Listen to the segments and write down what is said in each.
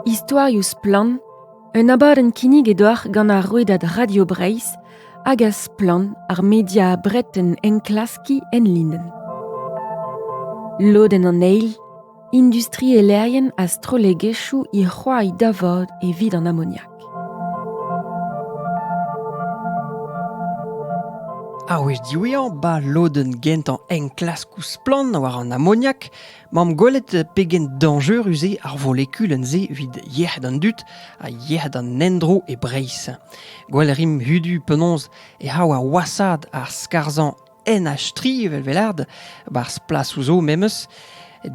Istorioù splann, un abadenn kinniget deoc'h gant ar rouedad Radio Breizh hag a splann ar media breton enklaskiñ enlinenn. Lodenn an eil, industrielerien ha strollegezhioù he c'hoañ da vod evit an amoniak. Ar wech diwezhañ, 'ba lodenn gentañ enklaskoù splann war an amoniak, 'mamp gwelet pegen dañjerus eo ar volekulenn-se evit yec'hed an dud ha yec'hed an endro e Breizh. Gwell 'rimp hudu penaos e c'hav ar wasad ar skarzhañ en a-stri evel welard, barzh plasoù zo memes,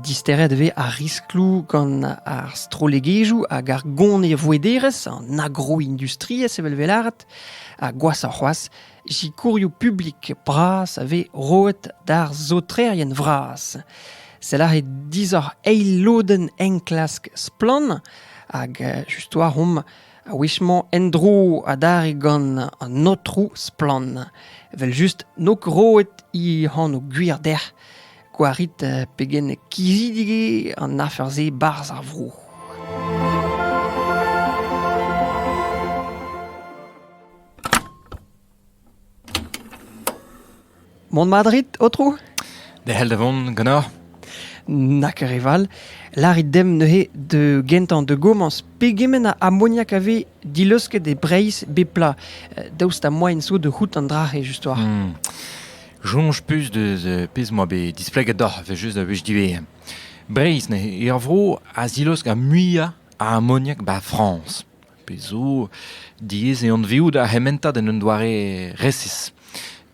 disteret e vez ar riskloù gant ar strollegezhioù hag ar gonevouederezh, an agroindustriezh evel welard, ha gwashoc'h c'hoazh, sikourioù publik bras a vez roet d'ar saotrerien vras. Sell eo disoc'h eil lodenn enklask Splann! hag just war omp A-wech-mañ en-dro adarre gant an aotrou Splann. Evel-just, n'eo ket roet he anv gwir dec'h. Gwarit pegen kizidik eo an afer-se 'barzh ar vro. Mont Madrid, Aotrou? Derc'hel da vont ganeoc'h. Na ket re val. Larit demp neuze de gentañ de gomañs pegement a amoniak a vez dileusket e Breizh bep pla. Daoust ha moaien zo de c'hoût an dra-se just war? Hmm. Soñj pus de pezh moa bet displeget doc'h, evel just a wech diwezhañ. Breizh, ur vro a zilosk ar muiañ a amoniak ba Frañs. pezh zo diaes eo anveout ar c'hementad en un doare resis.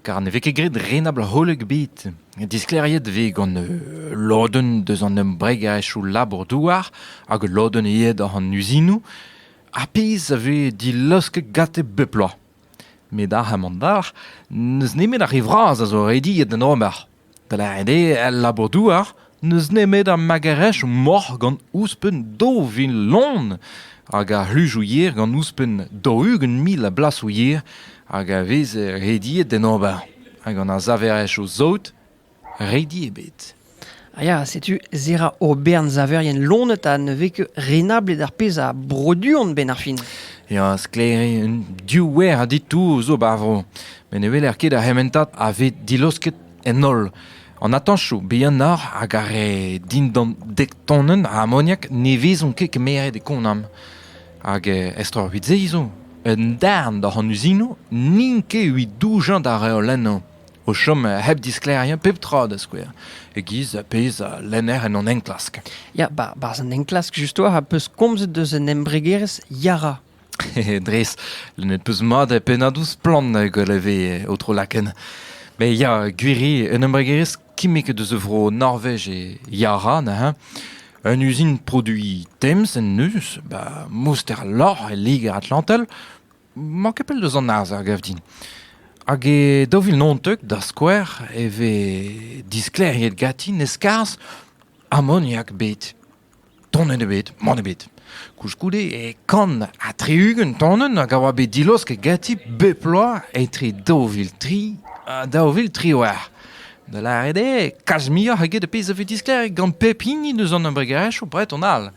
Kar ne vez ket graet renabl-holl ebet. Disklêriet vez gant euh, lodenn deus an embregaezhioù labour-douar hag lodenn aet oc'h an uzinoù, ar pezh a vez dilaosket gante bep bloaz. Met ar c'hamandar, n'eus nemet ar re vras a zo rediet d'en ober. Dre-se el labour-douar n'eus nemet ar magerezh moc'h gant ouzhpenn daou vil lon hag ar c'hluzoù yer gant ouzhpenn daou-ugent mil a blasoù yer hag a vez rediet d'en ober. Ha gant ar saverezhioù saout redi ebet. Ah ya, setu Zera Aubern, saverien lonet ha ne vez ket renablet ar pezh a broduont 'benn ar fin. Ya, sklaer eo, un div wer a ditour zo 'ba ar vro. met ne weler ket ar c'hementad a vez dilaosket en holl. An atañsoù bihanoc'h hag ar re dindan dek tonenn a amoniak ne vezont ket kemeret e Konam. Hag eh, estreñvit-se zo, un darn doc'h an uzinoù n'int ket evit doujañ d'ar reolennoù. O chom hep disklêriañ pep tra da skouer, e-giz pezh a lenner en hon enklask. Ya, barzh an enklask, justoa, a peus komzet deus un embregerezh Yara. Dres, n'et peus mat pennadoù splann galeve ho tro-lakenn. Mais ya, gwiri, un embregerezh kimmek deus a vro Norvej e Yara neuze. Un uzin produiñ Thames en deus, ba mouster lorc'h e Liger-Atlantel, mañ ket pell deus an arz a gav din. Hag e daou vil naontek, da skouer, e vez disklêriet ganti ne skarzh amoniak bet. Tonenn ebet, mann ebet. Koulskoude e kant ha tri-ugent tonenn hag a oa bet dilosket ganti bep bloaz etre daou vil tri ha daou vil triwec'h. Da lâret eo, kalz muioc'h eget ar pezh a vez disklêriet gant pep hini deus an embregerezhioù breton all.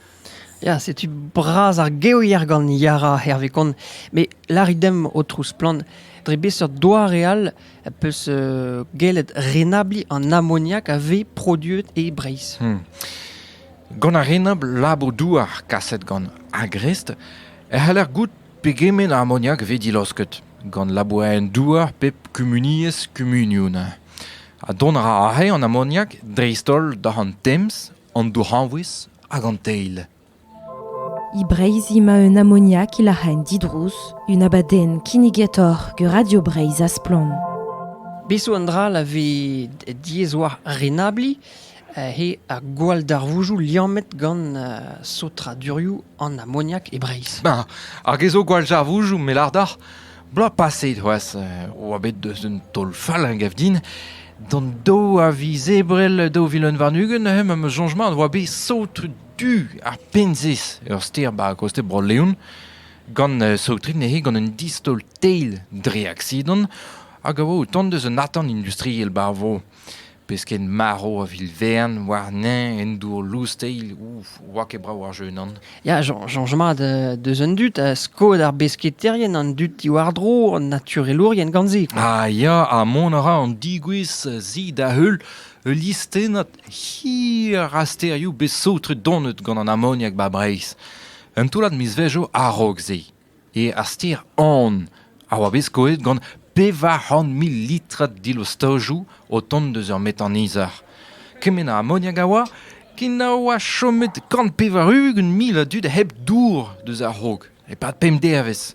Ya, setu bras ar gevier gant Yara, hervez kont. Met lârit demp, Aotrou Splann, dre beseurt doare all peus gellet renabliñ an amoniak a vez produet e Breizh. Hmm. Gant ar renabl labour-douar kaset gant Agrest e c'haller goût pegement a amoniak vez dilaosket gant labourerien-douar pep kumuniezh kumunioun. Ha dont a ra aze an amoniak dreist-holl da an Tems, an Dourc'hanvouez hag an Teil. E Breizh emañ un amoniak e lac'haen didrouz, un abadenn kinnigetoc'h gant Radio Breizh ha Splann. Bez zo un dra la vez diaes war renabliñ, he ar gwall darvoujoù liammet gant uh, sotradurioù an amoniak e Breizh. Ben, hag ez zo gwall darvoujoù me lardar, bloaz paset c'hoazh, euh, oa bet deus un taol fall a gav din, d'an do a viz ebrel 2021 neuze ma changement oa bet sot tu ar Penzez, ur stêr 'ba kostez Bro-Leon, gant uh, saotret neuze gant un distaol teil dre aksidant hag a oa o tont deus un atant industriel 'ba ar vro. Pesked marv a vil vern warnañ en dour lous-teil, ouf, oa ket brav ar jeu nan. Ya, soñj mat uh, deus an dud ha skod ar besketaerien an dud diwar-dro an naturelourien gant se. Ah ya, ha mont a ra an digouezh zi da heul ul listennad Hir a stêrioù bet saotret donet gant an amoniak 'ba Breizh. Un toullad mizvezhioù a-raok-se eo ar stêr An a oa bet skoet gant pevar c'hant mil litrad dilostojoù o tont deus ur metanizher. Kement a amoniak a oa ken a oa chomet kant pevar-ugent mil a dud hep dour deus ar raok, e-pad pemp devezh.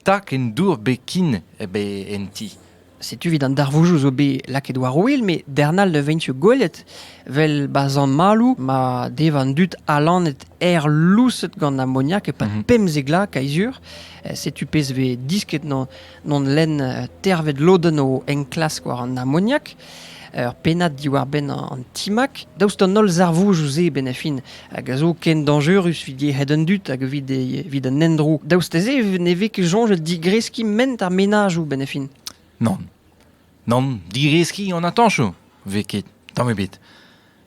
Tak en dour bekin eo en ti. Setu evit an darvoujoù zo bet lakaet war ouel, met darn all ne veint gwelet. Vel ba zamalou ma dev an dud alanet er lousset gant amoniak epad mhm. pemp zegla kaizur. Eh, setu pezh vez disket non, non len eh, tervet loden o enklask war an amoniak. ur pennad diwar-benn an timag. Daoust d'an holl zarvoudoù-se benn-a-fin, hag a zo ken dañjerus evit yec'hed an dud hag evit, evit an endro, daoust da-se ne vez ket soñjet digreskiñ ment ar menajoù benn-a-fin. Nann. Nann, digreskiñ an atañsoù vez ket, tamm ebet.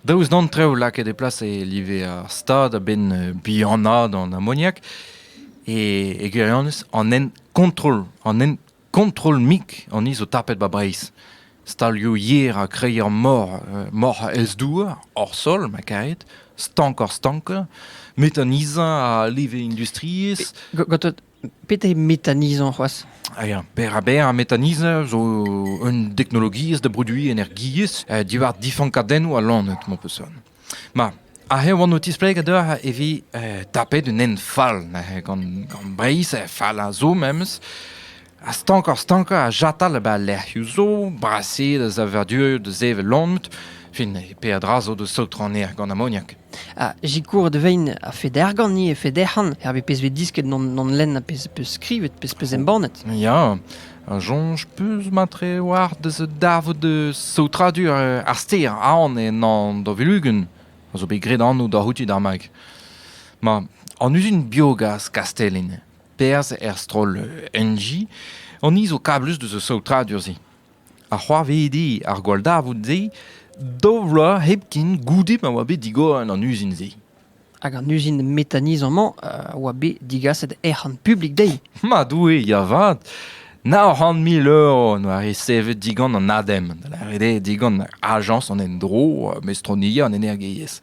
Daoust d'an trev lakaet e plas e live ar stad a-benn bihanaat an amoniak, e, e gwirionez, an hent kontrol, an hent Kontrol-mik an ni zo tapet 'ba Breizh. Stalioù yer ha kreier mor, euh, moc'h ez-douar, hor sol, ma karet, stank-hor-stankañ, méthanisant ha leve industriezh. Gatot, petra méthanisant c'hoazh? Ah ya, berr-ha-berr ha méthanisant zo un deknologiezh da broduiñ energiezh euh, diwar difankadennoù ha lanet, ma peusant. Ma, aze e oan o tisplegañ deoc'h e vi tapet un hent fall neuze gant, gant Breizh, fall a zo memes. Ha stankoc'h-stankañ a jatal eb al lec'hioù zo, brasaet a savadurioù da sevel lomet, fin peadra zo da saotronezhañ gant amoniak. Ha sikouret e vein a-fed ergant-ni, a-fed ec'han, er pezh vez disket d'hon lenn, pezh peus skrivet, pezh peus embannet. Ya, a soñj peus mat-tre oac'h deus davet saotradur ar stêr Aon en Andavulugun, a zo bet graet anv da c'houti d'ar mag. Ma, an uzin biogaz Kastellin, perzh er stroll Enji, an ni zo kablus deus ar saotradur-se. Ha c'hoarvedi ar gwalldarvoud-se daou vloaz hepken goude ma oa bet digor an uzin-se. Hag an uzin metanizañ-mañ a oa bet digaset ec'hon publik dezhi. Ma Doue, ya 'vat! Nav c'hant mil euro en doa resevet digant an ADEM, da lâret eo digant Ajañs an Endro, Mestroniezh an Energiezh.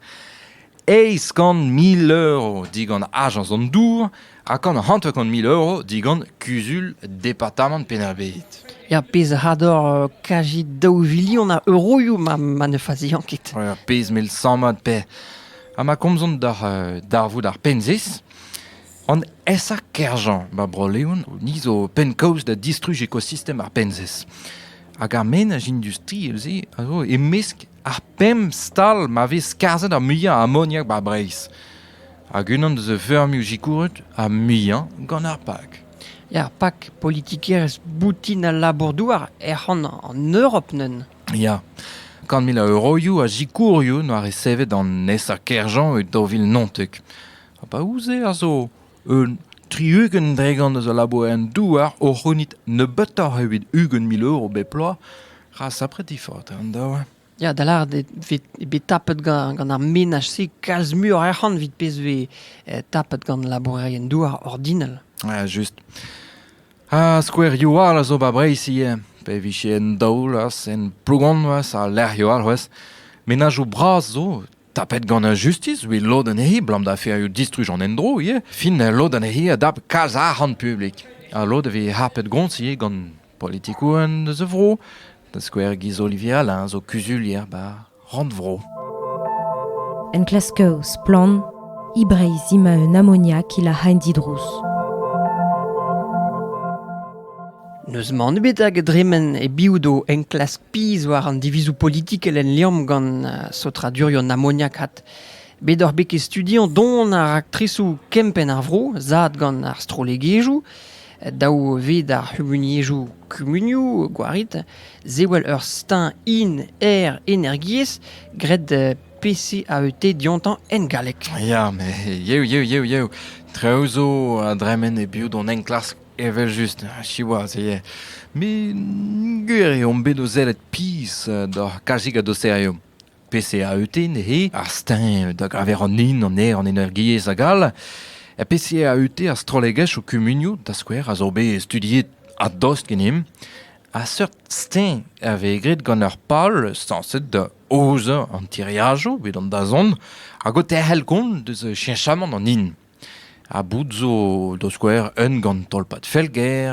Eizh kant mil euro digant Ajañs an Dour, Ha gant hanter-kant mil euro digant kuzul departamant Penn-ar-Bed. Ya, pezh a ador euh, kaji daou vilion a euroioù ma, ma ne faziañ ket. Ja, pezh mel sammad pe. Ha ma komzont d'ar euh, darvoud ar penzis, an esa kerjañ ba Bro-Leon ni zo penn-kaoz da distruj ekosistem ar penzis. Hag ar menaj industri, eus a zo e-mesk Ar pemp stal ma vez skarzhet ar muiañ a amoniak 'ba Breizh. Hag unan deus a feurmioù sikouret ar muiañ gant ar PAK. Er PAK, politikerezh boutin al labour-douar ec'hon an Europ neuze. Ya. Kant mil a euroioù a sikourioù 'noa resevet an nesañ Kerjean e daou vil naontek. Ha pa ouzh-se a zo Un tri-ugent dregont eus al labourioù-douar o c'hounit nebeutoc'h evit ugent mil euro bep bloaz ra sapret difaot eo an daou. Ya, da lâret eo bet tapet gant, gant ar menaj-se kalz muioc'h arc'hant evit pezh vez eh, tapet gant labourerien-douar ordinal. Ja, just. Ha skouerioù all a zo ba Breizh ivez, pe vije en daol, en Plogonvas, ha lec'hioù all c'hwez. Menajoù bras zo Tapet gant ar justis evit lod anezhi, abalamour da distruj an endro ivez, fin lod anezhi a dap kalz arc'hant publik. Ha lod a vez harpet gont ivez gant politikourien eus a vro, da skouer Guy Olivier Alain zo kuzulier bar Rannvro. Enklasker splann, e Breizh ima un amoniak ila haen didrouz. N'eus mann ebet hag a dremen e-biou d'o enklask pizh war an divizoù politikel en Liamm gant saotradurioù amoniakat. Bet oc'h bet ket studiañ don ar raktresoù kempenn ar vro zad gant ar strollegezhioù, daou ved ar c'humuniezhoù kumunioù gwarit, sewell ur steuñv in-aer energiezh graet PCAET diontañ en galleg. Ya, met yev, yev, yev, yev. Traoù zo a dremen e-biou d'hon enklask Evel-just, siwazh eo. Met gwir eo on bet o sellet pizh doc'h kalzik a douseriom. PCAUT neuze, ar steuñv da geñver an hin, an aer, an energiezh hag all. E PCAUT ar strollegezh ho kumunioù, da skouer, a zo bet studiet a-dost ganemp. A seurt steuñv a vez graet gant ur pal sañset da aozañ an tiriajoù evit an dazont hag o terc'hel kont deus cheñchamant an hin. Ha boud zo da skouer un gant tolpad Felger,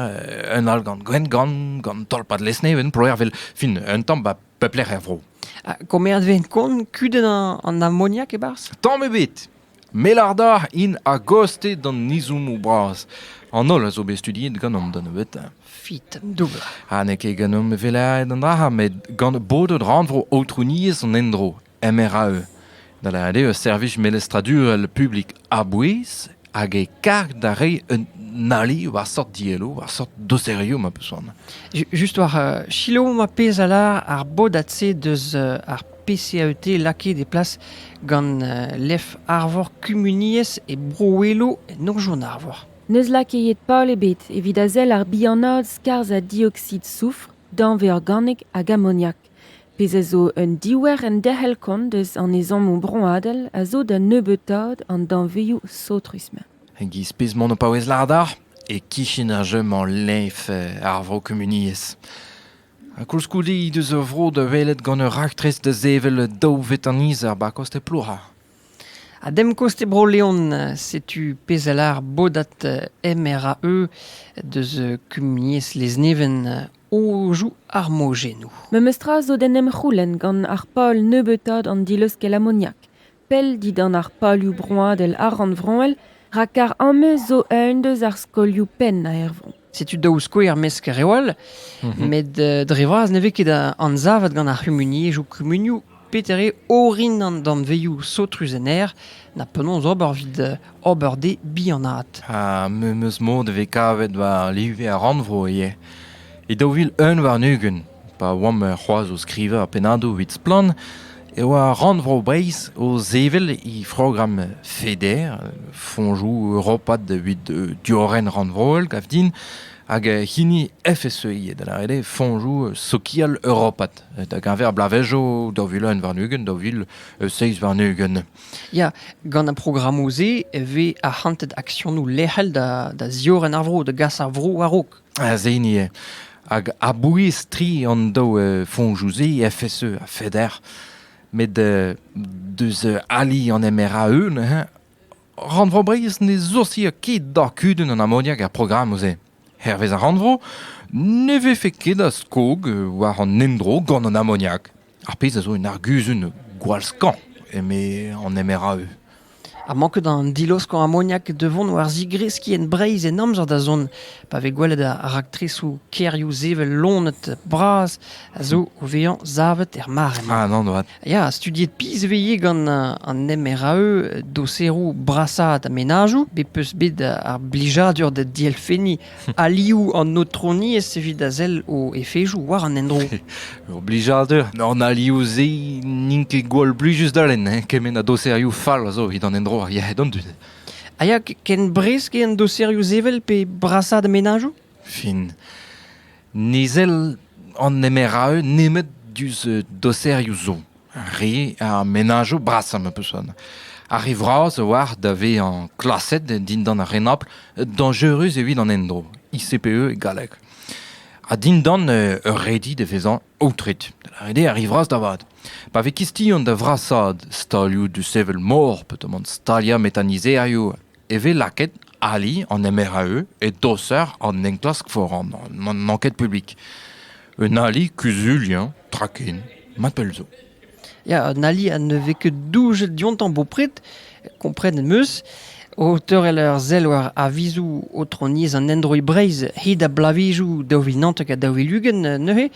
un all gant Gwengamp, gant tolpad Lesneven, Ploer, 'vel fin un tamm 'ba pep lec'h er vro. Ha komeret 'ven kont kudenn an amoniak e-barzh? Tamm ebet! Melarda int a-gaoste d'an izommoù bras. An holl a zo bet studiet ganeomp da nebeutañ. Fit, doubl. Ha n'eo ket ganeomp evelaet an dra-se, met gant bodet rannvro aotrouniezh an endro. MRAE, da lâret eo ur servij melestradurel publik a-bouez hag e karg da reiñ un ali war seurt dielloù, war seurt doserioù ma peus c'hoant. Ju- Just war uh, selaou ma pezh a lâr ar bodad-se deus uh, ar PCAET lakaet e plas gant uh, lef Arvor Kumuniezh e Bro-Welo en Norzhion Arvor. N'eus lakaet pal ebet evit a sell ar bihanaat skarzh ha dioxyde soufr, danvez organek hag amoniak. Pezh a zo un diouer enderc'hel-kont eus an ezhommoù broadel a zo da nebeutaat an danvezioù saothrus-mañ. E-giz pezh-mañ ho paouez lâret e-kichen ar jeu-mañ leñv ar vro-kumuniezh. Ha koulskoude he deus ur vro da welet gant ur raktres da sevel daou vetanizer 'ba koste Plouha. Ha dem koste Bro-Leon, setu pezh a lâr bodad MRAE deus kumuniezh Lezneven Ouzhoù ar mojennoù. Memes tra zo d'en em c'houlenn gant ar pal nebeutaat an dileuskel amoniak, pell dindan ar palioù broadel ha rannvroel, rak ar ameuz zo eun deus ar skolioù pennañ er vro. Setu daou skouer mesk reol, met dre vras ne vez ket anzavet gant ar c'humuniezhoù kumunioù Peter eo orin an danvezioù saotrus en aer, na penaos ober evit ober dezhe bihanaat. Ha me 'm eus mod e vez kavet war live ar rannvro ivez. E daou vil un warn-ugent, pa oamp c'hoazh o skrivañ ar pennadoù evit Splann! e oa Rannvro Breizh o sevel he programm FEDER, Fonjoù europat evit diorren rannvroel, gav din, hag hini FSEI, da lâret eo Fonjoù sokial europat. da geñver bloavezhioù daou vil un warn-ugent, daou vil seizh warn-ugent. Ya, gant ar programmoù-se e vez arc'hantet aksionoù lec'hel da, da ziorren ar vro, da gas ar vro war-raok. Az hini eo. Hag a-bouez tri an daou uh, foñjoù-se, FSE ha FEDER, met uh, deus ali an MRAE, Rannvro Breizh ne soursia ket d'ar kudenn an amoniak er programmoù-se. Hervez ar rannvro ne vefe ket a skog war an endro gant an amoniak, ar pezh a zo un arguzun gwall-skañv, eme an MRAE. Ha manket an diloskañ amoniak da vont war zigreskiñ en Breizh en amzer da zont, pa vez gwelet ar raktresoù kêrioù sevel lonet bras a zo o vezañ savet er mare-mañ. Ah non, Ya, studiet pizh 'veze gant an MRAE doseroù brasaat mennajoù bet 'peus bet ar blijadur da dielfenniñ alioù an aotroniezh evit a sell o efezoù war an endro. Ur blijadur. An alioù-se n'int ket gwall blijus da lenn, hein? kement a doserioù fall a zo evit an endro ar yec'hed an dud. A ya ken bresk eo an doserioù sevel pe brasaat mennajoù? fin. Nizell an nemer a eu nemet diouzh doserioù zo. Re ar menajoù brasañ ma peus Ar re vras a oar da vezañ klaset dindan ar renabl dañjerus evit an endro, ICPE e galleg. Ha dindan euh, ur redi da vezañ aotret. Da lâret ar re vras da vat. Pa vez kistion da vrasaat stalioù du sevel mor, pe tomant staliañ metanizerioù e vez lakaet ali an MRAE e doser an enklask foran n'an ket publik. Un ali kuzuliañ tra ken, ma pell zo. Ya, un ali à ne vez que doujet diontañ bopred, komprenn meus, o teurel ur sell war avizoù otroniezh an Android Breizh hid a blavezioù daou vil naontek ha daou vil ugent neuze,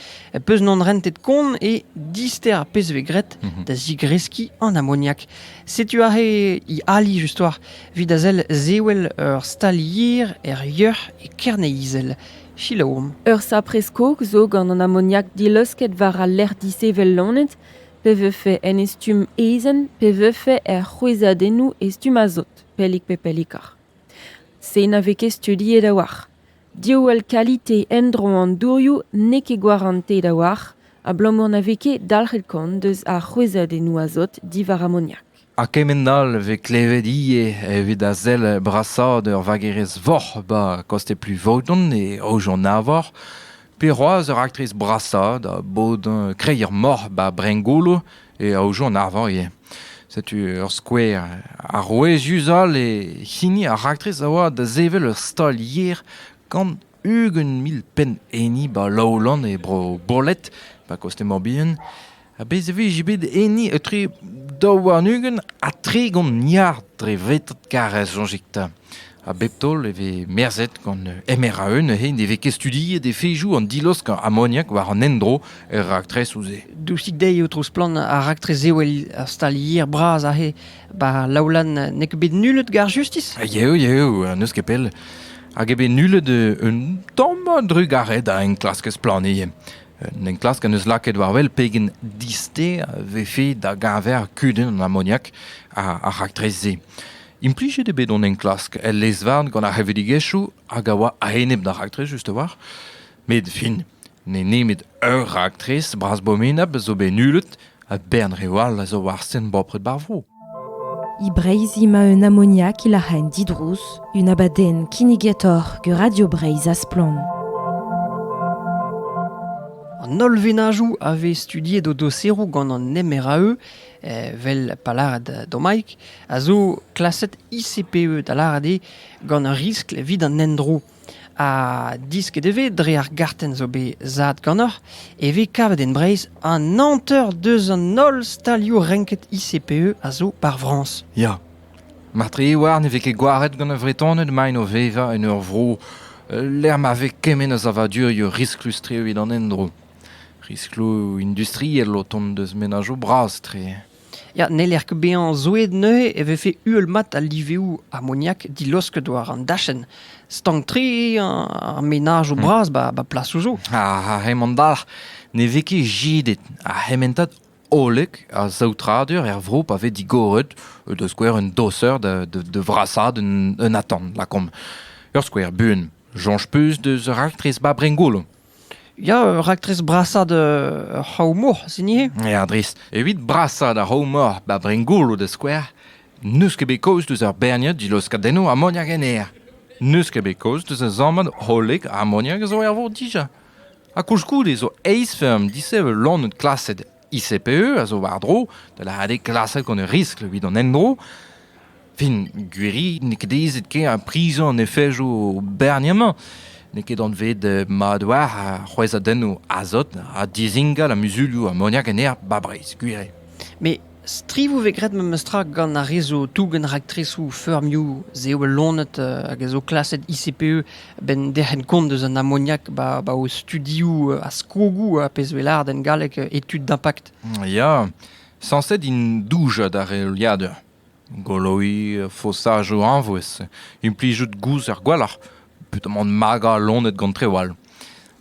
peus non rentet kont e dister ar pezh vez graet mhm. da zigreskiñ an amoniak. Setu aze he ali just-war evit a sell zewel ur stalier er yeuc'h e Kerne-Izel. Selaomp. Ur sapre-skog zo gant an amoniak dileusket war al lec'h dishevel lonet, pe vefe en e stumm ezen, pe vefe er c'hwezhadennoù e stumm azot, pellik pe pellikoc'h. Se na vez ket studiet a-walc'h. Diouall kalite endro an dourioù n'eo ket gwarantet a-walc'h abalamour na vez ket dalc'het kont eus ar c'hwezhadennoù azot diwar amoniak. Ha kement all e vez klevet ivez evit a sell brasaat ur vagerez voc'h 'ba koste Plouvoton e Aojon-Arvor, pe c'hoazh ur raktres brasaat a bod kreier-moc'h 'ba Brengolo e aozo an arvar ivez. Setu ur skouer arouezius all e hini ar raktres a oa da sevel ur stal-yer gant ugent mil penn enni ba Laolan e bro Boled, ba koste Morbihan. Ha bez e vije bet enni etre daou warn-ugent ha tregont milliard dre vretad karrez, soñjit 'ta. A bep taol e vez merzhet gant MRAE neuze ne vez ket studiet efezoù an dilosk amoniak war an endro er raktresoù-se. Dousik dezhi, Aotrou Splann, ar raktres eo ar stal yer bras aze. Ba Laoulan n'eo ket bet nullet gar justis? Yeo, yeo, n'eus ket pell. Hag eo bet nullet un tamm drugaret a enklaskez plannier. Un enklask en eus lakaet war wel pegen disté vefe da geñver kudenn an amoniak ar raktres-se. Implijet eo bet hon enklask el lez-varn gant ar c'hevredigezhioù hag a oa a-enep d'ar raktres just-a-walc'h. Met fin, n'eo nemet ur raktres bras-bomenap zo bet nullet ha bern reoù all a zo war sent bopred ba'r vro. E Breizh emañ un amoniak e lac'haen didrouz, un abadenn kinnigator gant Radio Breizh a Splann. An holl venajoù a vez studiet o doseroù gant an MRAE Evel pa lâret Domaig, a zo klaset ICPE da lâret eo gant ur riskl evit an endro. Ha disket e vez dre ar gartenn zo bet zad ganeoc'h e vez kavet en Breizh an hanter deus an holl stalioù renket ICPE a zo par Frañs. Ya. Martre Iwar ne vez ket gwaret gant ar Vretoned maint o vevañ en ur vro lec'h ma vez kement a savadurioù risklus-tre evit an endro. Riskloù industriel o tont deus menajoù bras-tre. Ya, n'heller ket bezañ zoueet neuze e vefe uhel-mat al liveoù amoniak dilosket war an dachenn. Stank-tre ar menajoù bras ba ba plasoù zo. Ha hemañ dalc'h ne vez ket jidet ar c'hementad hollek a saotradur er vro pa vez digoret da skouer un doser da da da vrasaat un un atant, lakaomp. Ur skouer buan, soñj 'peus deus raktres ba Brengolo? Ya, ur raktres brasañ d'ur c'hraou-mor, sin ivez? Ya, dres. Evit brasañ d'ar c'hraou-mor ba Bringolo da skouer, n'eus ket bet kaoz deus ur berniad dilaoskadennoù amoniak en aer. N'eus ket bet kaoz deus ur sammad hollek amoniak a zo er vor dija. Ha koulskoude zo eizh feurm disheñvel-loened klaset ICPE a zo war-dro da lâret eo klasek an riskl evit an endro. Fin, gwiri n'eo ket aezet ken ar prizoù an efejoù berniemañ. N'eo ket anvet eh, mat war ar c'hwezhadennoù azot ha dizingal a muzulioù amoniak en aer 'ba Breizh, gwir eo. Mais strivoù vez graet memestra gant ar re zo tougen raktresoù feurmioù, se eo bet lonet uh, hag a zo klaset ICPE a-benn derc'hent kont eus an amoniak 'ba o studioù a skogoù a pezh 'vez lâret en galleg études d'impact. Ya, sañset int doujañ d'ar reoliadur. Goloiñ fosajoù añvouez, implijout gouz er gwalc'h, petamant magañ loened gant treoù all.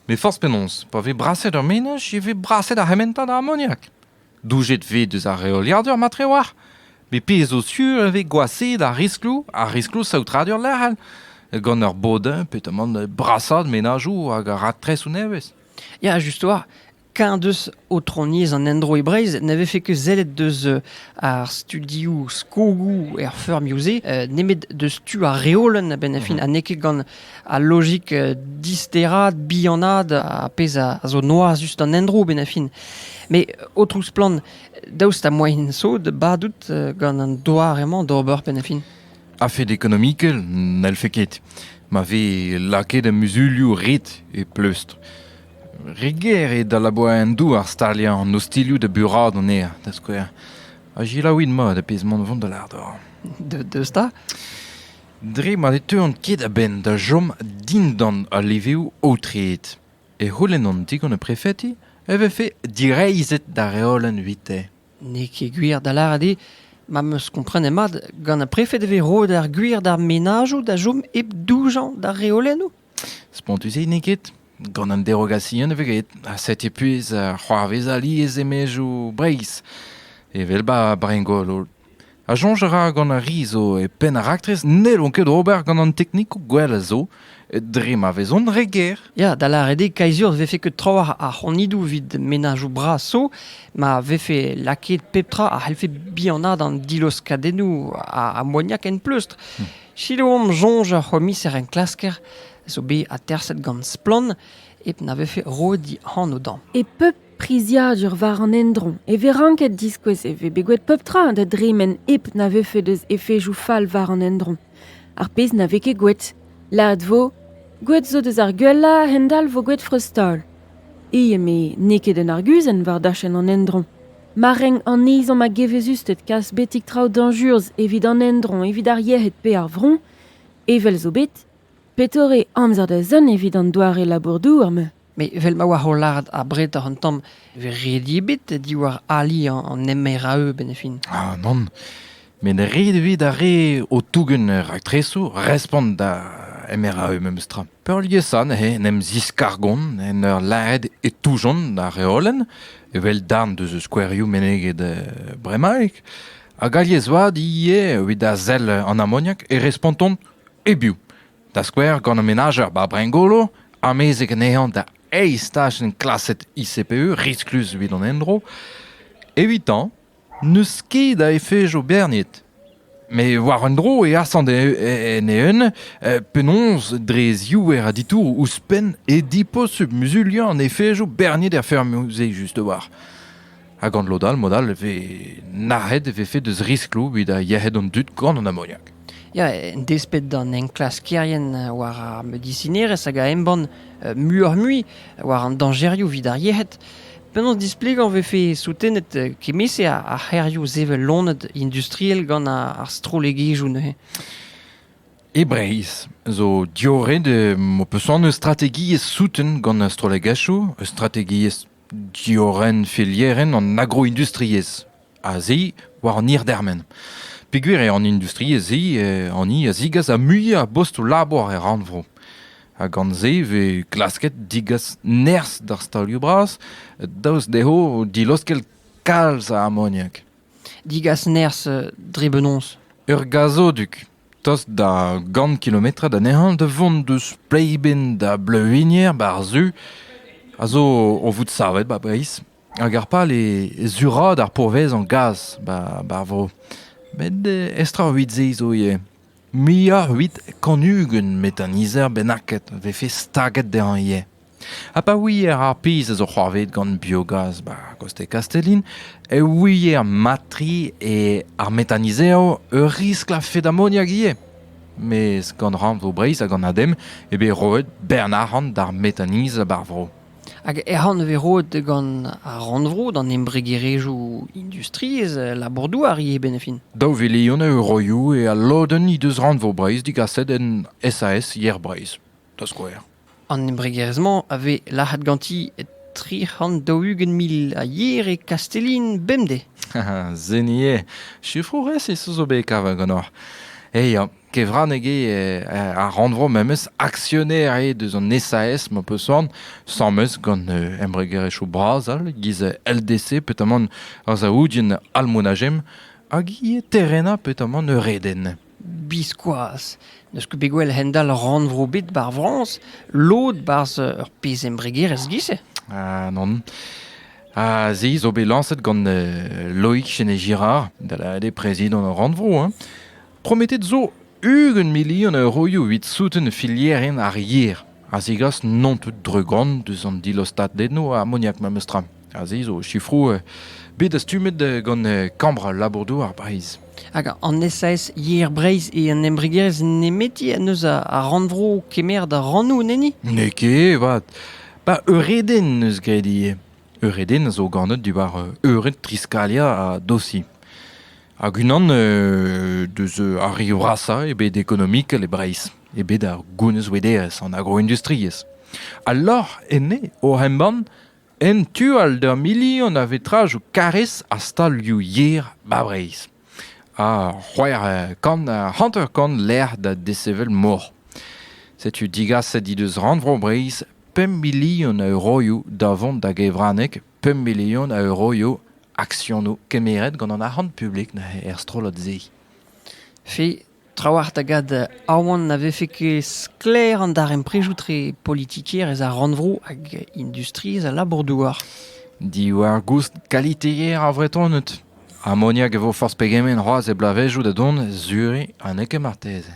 Met forzh penaos, pa vez braset ur menaj e vez braset ar c'hementad a amoniak. Doujet 'vez deus ar reoliadur matre oar met pezh zo sur e vez gwashaet ar riskloù ar riskloù saotradur lec'hel gant ur bodin pe tamant brasaat menajoù hag raktresoù nevez. Ya, just oar. Keñ deus aotroniezh an endro e Breizh ne vefe ket sellet deus ar studioù skogoù er feurmioù-se nemet deus tu ar reolenn a-benn ar fin ha n'eo ket gant Al lojik disteraat, bihanaat, ar pezh a zo noazus d'an endro benn a fin. Met, o splann, daoust ha moaien sod badout gant an doar emañ d'ober benn a fin? A-fed ekonomikel, n'hellfe ket. Ma vez lakaet muzulioù ret e pleustr. Re ger eo da labour en douar staliañ an ostilhoù da buraat anezhañ, da skouer. Ha gelaouit mat ar pezh mont vont da lardor. Deus da? Dre ma ne teuont ket a-benn da chom dindan al levrioù aotreet e c'houlennont digant ar prefeti e vefe direizhet da reolenn evite. N'eo ket gwir da lâret eo ma 'm eus komprenet mat, gant ar prefed e vez roet ar gwir d'ar menajoù da chom hep doujañ d'ar reolennoù. Spontus-se n'eo ket. Gant an derogasion e vez graet. Ha setu puez uh, c'hoarvez alies e-maezioù Breizh, evel ba Brengol. Ha soñj a ra gant ar ri zo e penn ar raktres n'hellont ket ober gant an teknikoù gwell a zo dre ma vezont re ger. Ya, da lâret eo kaizur vefe ket trawalc'h ar c'honidoù evit menajoù bras zo ma vefe lakaet pep tra a c'hellfe bihanaat an diloskadennoù ammoniak en pleustr. Hmm. Sikour omp soñj ar c'homiser-enklasker a zo bet aterset gant Splann hep na vefe roet he anv dezhañ. E pep priziadur war an endro e vez ranket diskouez e vez bet gwet pep tra da dremen hep na vefe deus efejoù fall war an endro. Ar pezh na vez ket gwet. Lâret vo, gwet zo deus ar gwellañ a-hend-all vo gwet freuztaol. E eme n'eo ket un arguzenn war dachenn an endro. Ma renk an ezhomm a-gevezusted kas betek traoù dañjurzh evit an endro evit ar yec'hed pe ar vro, evel zo bet, petore amzer da zont evit an doare labour-douar-mañ ? Met evel ma oa o lâret abred oc'h an tamm e vez ret ebet diwar ali an MRAE-ben fin. Ah nann, met ret evit ar re o tougen raktresoù respont da MRAE memestra. Peurliesañ neuze en em ziskargont en ur lâret e toujont ar reolenn, evel darn deus skouerioù meneget bremaik, hag alies-vat ivez evit a sell an amoniak e respontont e-biou, da skouer gant an menajer Babringolo, amezek anezhañ da eizh tachenn klaset ICPE risklus evit an endro. Evitañ N'eus ket a efejo berniet. Met war un dro e asant en eeun penaos dre ziouer a ditouroù ouzhpenn e diposubl muzuliañ an efejo berniet er feurmoù-se just-war. Ha gant lod all, mod all e vez nac'het e vefe deus riskloù evit yec'hed an dud gant an amoniak. Ya, en desped d'an enklaskerien war ar medisinerezh hag a embann muioc'h-mui war an dañjerioù evit ar yec'hed, penaos displegañ e vefe soutenet kement-se ar c'hêrioù sevel loened industriel gant ar strollegezhioù neuze? E Breizh zo diorren ho peus anv eus strategiezh souten gant ar strollegezhioù, eus strategiezh Diorren felierenn an agroindustriezh a-se war an hir-dermen. Peogwir eo an industriezh-se hani a zigas ar muiañ a bostoù-labour er rannvro. Ha gant-se e vez klasket degas nerzh d'ar stalioù-bras daoust dezho dilaoskel kalz a amoniak. Degas nerzh dre benaos ? Ur gazodug Tost da gant kilometrad anezhañ da vont deus Pleiben da Bleuwigner war-zu a zo o vout savet 'ba Breizh hag ar pal eo suraat ar pourvezañ gaz 'ba ar vro. Met estrañvout se zo ivez. Muioc'h 'evit kant ugent metr an nizer bennaket 'vefe staget dezhañ ivez. Ha pa ouier ar pezh a zo c'hoarvezet gant biogaz 'ba Coste Castellin e ouier mat-tre eo ar metanizev ur riskl a-fet amoniak ivez. Mes gant rannvro Breizh hag an ADEM eo bet roet bern arc'hant d'ar metaniz bar vro. Hag arc'hant e vez roet gant ar rannvro d'an embregerezhioù industriezh labour-douar ivez benefin. Daou vilion a euroioù eo al lodenn he deus rannvro Breizh digaset en SAS Yer Breizh, da skouer. An embregerezh-mañ a vez lazhet ganti e tri c'hant daou-ugent mil a yer e Kastellin bemdez. Seni eo. Sifroù resis zo bet kavet ganeoc'h. E ya. Kevraneg eo ar rannvro memes aksioner eo deus an SAS ma peus soan, sames gant embregerezhioù bras all, giz LDC petamant ar Saoudien Almonajem hag ivez Terrena petamant Eureden. Biskoazh n'eus ket bet gwell a-hend-all rannvro ebet bar Frañs lod 'barzh ur pezh embregerezh giz-se. Ah non. Ha se zo bet lañset gant Loïc Chenet-Girard, da lâret eo prezidant ar rannvro. Hein. Prometet zo ugent milion euroioù evit souten filierien ar yer. a zegas non tout dregont deus an dilastadennoù amoniak memestra. Aze zo sifroù bet dastumet gant Kambr labour-douar Breizh. Hag an SAS Yer Breizh e an embregerezh nemeti en eus ar rannvro kemer da rannoù neni? N'eo ket, vat. Ba eureden eus graet ivez. Eureden a zo ganet diwar eured triskalia ha dosi. Hag unan deus ar rioù rasañ e bet ekonomikel e Breizh. eo bet ur gounezvouederezh an agroindustriezh. Al lorc'h enne oc'h embann en tu-all d'ur milion a vetrajoù karrez ha stalioù yer 'ba Breizh. Ha c'hwec'h kant, hanter-kant lec'h da desevel mor. Setu digaset he deus Rannvro Breizh pemp milion a euroioù da vont da gevraneg, pemp milion a euroioù aksionoù kemeret gant an arc'hant publik neuze er strollad-se. Fi, Trawalc'h da gad aoan na vefe ket sklaer an darempredoù-tre politikerezh ar rannvro hag industriezh al labour-douar. Diwar-goust kaliteer ar Vretoned. Amoniak e vo forzh pegement c'hoazh e bloavezhioù da dont, Zurich ha n'eo ket marteze.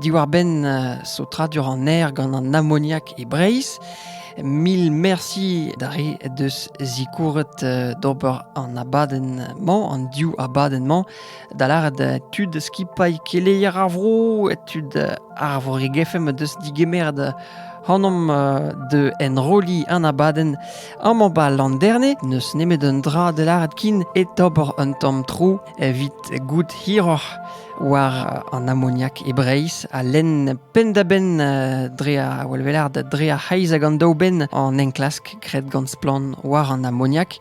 Diwar-benn saotradur an aer gant an amoniak e Breizh, mil merci d'ar re deus zikouret d'ober an abadenn-mañ, an div abadenn-mañ, da lâret tud skipailh keleier ar vro, tud ar Vreg-FM deus digemeret hanomp de enrolliñ an abadenn amañ 'ba Landerne. N'eus nemet un dra da lâret kin, et ober un tamm tro. evit goût hiroc'h war an amoniak e Breizh ha lenn penn-da-benn euh, dre ar welvelar dre ar c'heiz hag an daou benn an enklask graet gant splann war an amoniak.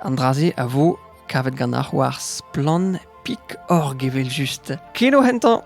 An dra-se a vo kavet ganeoc'h war splann.org evel just. Kino hentañ!